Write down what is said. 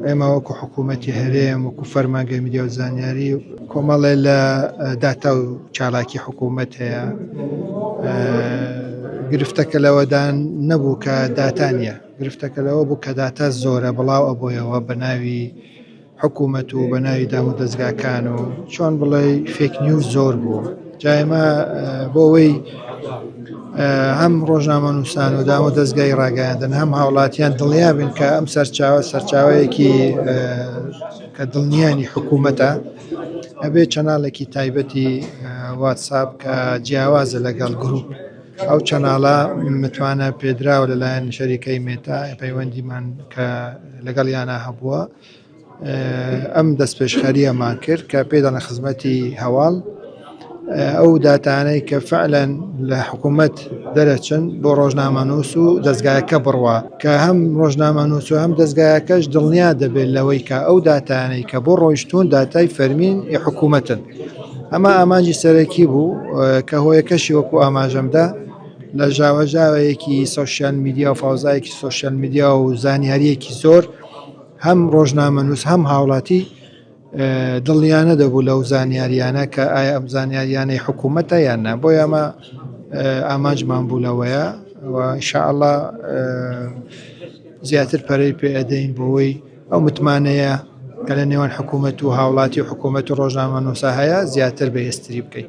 ئێمە وەکو حکوومەتی هەرێم وەکو فەرمانگەی میدیا و زانیاری کۆمەڵێ لە داتا و چالاکی حکوومەت هەیە گرفتەکە لەوەدان نەبوو کە داتا نییە گرفتەکە لەوە بوو کە داتا زۆرە بڵاو ئەبۆیەوە بە ناوی حکوومەت و بە ناوی دام و دەستگاکان و چۆن بڵێ فێکنی و زۆر بوو جا ئێمە بۆ ئەوەی هەم ڕۆژنامە نووسان و داوە دەستگای ڕاگەیاندن هەم هاوڵاتیان دڵنیا بن کە ئەم سەرچاوە سەرچاوەیەکی کە دڵنیانی حکوومەتە ئەبێ چەناڵێکی تایبەتی واتساب کە جیاوازە لەگەڵ گروپ ئەو چەناڵە متوانە پێدراوە لەلایەن شەریکەی مێتا پەیوەندیمان کە لەگەڵ یانە هەبووە ئەم دەستپێشخەرییەمان کرد کە پێدان لە خزمەتی هەواڵ ئەو داتانەی کە فعلەن لە حکوومەت دەرەچن بۆ ڕۆژنامەنووس و دەستگایەکە بڕوا کە هەم ڕۆژنامەنووس و هەم دەستگایەکەش دڵنیا دەبێت لەوەی کە ئەو داتانەی کە بۆ ڕۆیشتون داتای فەرمین ی حکوومەتن ئەمە ئامانجی سەرەکی بوو کە هۆیەکەشی وەکو ئاماژەمدا لە ژاوەژاوەیەکی سۆشیال میدیا و فەوزایەکی سۆشیال میدیا و زانیاریەکی زۆر هەم ڕۆژنامەنووس هەم هاوڵاتی دڵنیانە دەبوو لەو زانیاریانە کە ئایا ئەم زانیاریانەی حکوومەتە یان نا بۆ یامە ئامانجمان بوو لەوەیە شاءله زیاتر پەرەی پێدەین بۆەوەی ئەو متمانەیە کە لە نێوان حکوومەت و هاوڵاتی و حکوومەت و ڕۆژنامە نووسا هەیە زیاتر بەهێستری بکەین.